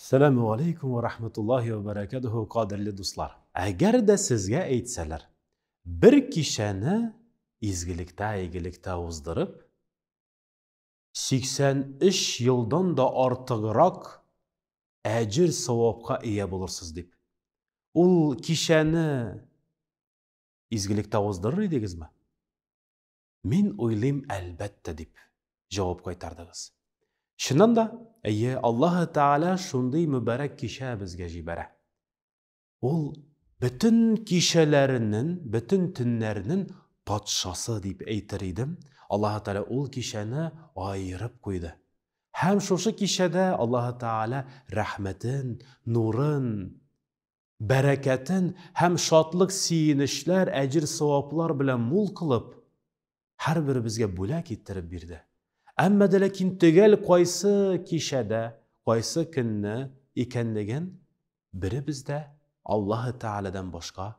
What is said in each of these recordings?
Сәләмү алейкум вә рахматуллахи вә бәрәкәтүһү, кадерле дуслар! Әгәр дә сезгә әйтсәләр, бер кичәне изгелектә, игелектә уздырып, 83 елдан да артыграк әҗер-савапка ия булырсыз дип, ул кичәне изгелектә уздырыр идегезме? Мин уйлыйм, әлбәттә, дип җавап кайтардыгыз. Чыннан да, әйе, Аллаһы Тәгалә шундый мөбарәк кичә безгә җибәрә. Ул бөтен кичәләреннән, бөтен төннәрнең патшасы дип әйтер идем. Аллаһы Тәгалә ул кичәне аерып куйды. Һәм шушы кичәдә Аллаһы Тәгалә рәхмәтен, нурын бәрәкәтен һәм шатлык сөенечләр, әҗер-саваплар белән мул кылып, һәрберебезгә бүләк иттереп бирде. Әмма дә ләкин төгәл кайсы кичәдә, кайсы көнне икәнлеген беребез дә Аллаһы Тәгаләдән башка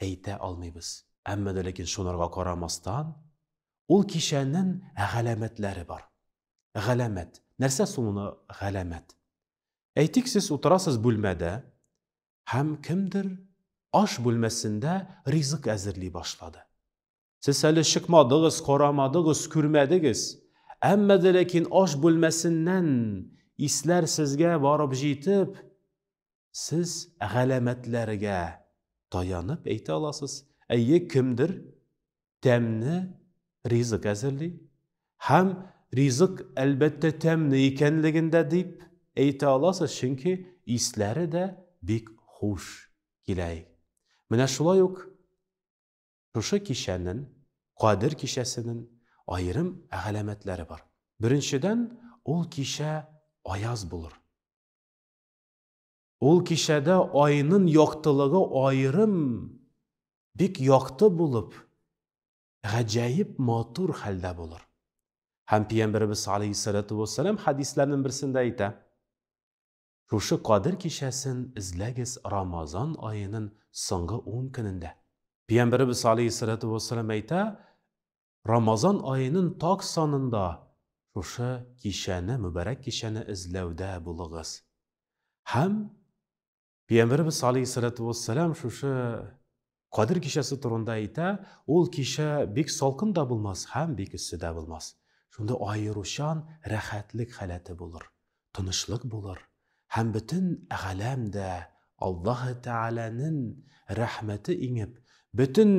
әйтә алмыйбыз. Әмма дә ләкин шунарга карамастан, ул кичәнен галәмәтләре бар. Галәмәт. Нәрсә соң моны галәмәт? Әйтик, сез утырасыз бүлмәдә, һәм кемдер аш бүлмәсендә ризык әзерли башлады. Сез әле чыкмадыгыз, карамадыгыз, күрмәдегез, әмма дә ләкин аш бүлмәсеннән исләр сезгә барып җитеп, сез галәмәтләргә таянып әйтә аласыз, әйе, кемдер тәмне ризык әзерли һәм ризык әлбәттә тәмне икәнлеген дә дип әйтә аласыз, чөнки исләре дә бик хуш килә. Менә шулай ук шушы кичәнен, Кадер кичәсенен аерым галәмәтләре бар. Беренчедән, ул кичә аяз булыр. Ул кичәдә айнын яктылыгы аерым бик якты булып, гаҗәеп матур хәлдә булыр. Һәм Пиямберебез алейһиссәләтү вәссәлам хәдисләрнен берсендә әйтә, Шушы Кадер кичәсен эзләгез Рамазан аенын соңгы ун көнендә. Пиямберебез алейһиссәләтү вәссәлам әйтә, Рамазан аенын так санында шушы кичәне, мөбарәк кичәне эзләүдә булыгыз. Һәм Пиямберебез алейһиссалату вассалам шушы Кадер кичәсе турында әйтә, ул кичә бик салкын да булмас һәм бик эссе дә булмас. Шунда аеручан рәхәтлек халәте булыр. тынычлык булыр һәм бөтен галәм дә Аллаһы Тәгаләнен рәхмәте иңеп, бөтен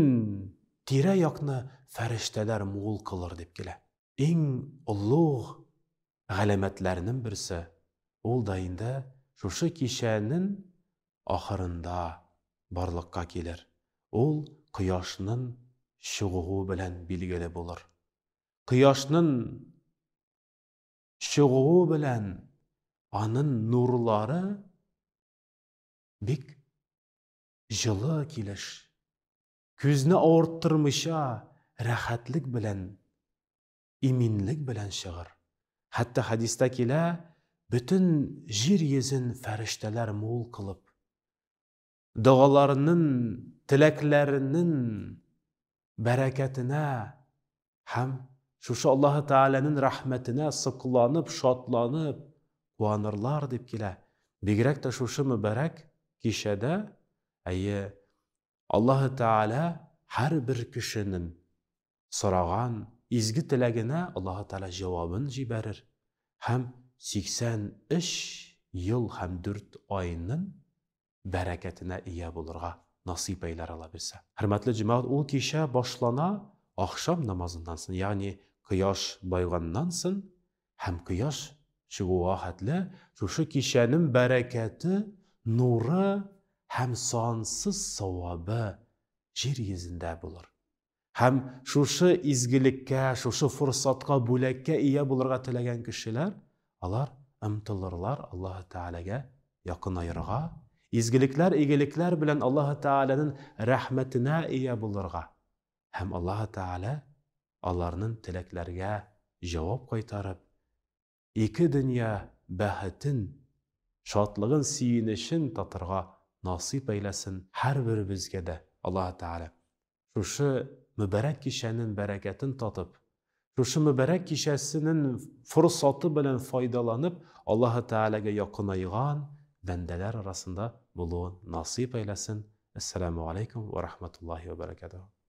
тирә-якны фәрештәләр мул кылыр дип килә. Иң олуг галәмәтләрнен берсе, ул да инде шушы кичәнен ахырында барлыкка килер, ул кояшнын чыгуы белән билгеле булыр. Кояшнын чыгуы белән анын нурлары бик җылы килеш, күзне авырттырмыйча рәхәтлек белән, иминлек белән чыгыр. Хәтта хәдистә килә, бөтен җир йөзен фәрештәләр мул кылып, догаларынын, теләкләренен бәрәкәтенә һәм шушы Аллаһы Тәгаләнең рәхмәтенә сокланып, шатланып куанырлар дип килә. Бигрәк тә шушы мөбарәк кичәдә, әйе, Аллаһы Тәгалә һәрбер кешенең сораган изге теләгенә Аллаһы Тәгалә җавабын җибәрер һәм 83 ел һәм дүрт айның бәрәкәтенә ия булырга насыйп әйләр Алла бирсә. Хөрмәтле җәмәгать, ул кичә башлана ахшам намазыннан сон, ягъни кояш байганнан сон һәм кояш чыгуга хәтле шушы кичәнем бәрәкәте, нуры һәм сансыз савабы җир йөзендә булыр. Һәм шушы изгелеккә, шушы форсатка, бүләккә ия булырга теләгән кешеләр, алар ымтылырлар Аллаһы Тәгаләгә якынаерга, изгелекләр, игелекләр белән Аллаһы Тәгаләнең рәхмәтенә ия булырга. Һәм Аллаһы Тәгалә аларның теләкләргә җавап кайтарып, ике дөнья бәхетен, шатлыгын, сөенечен татырга насыйп әйләсен һәрберебезгә дә Аллаһы Тәгалә. Шушы мөбарәк кичәнең бәрәкәтен татып, шушы мөбарәк кичәсенең форсаты белән файдаланып, Аллаһы Тәгаләгә якынайган бәндәләр арасында булуын насыйп әйләсен. Әссәламү галәйкүм вә рахматуллаһи вә бәрәкәтүһү.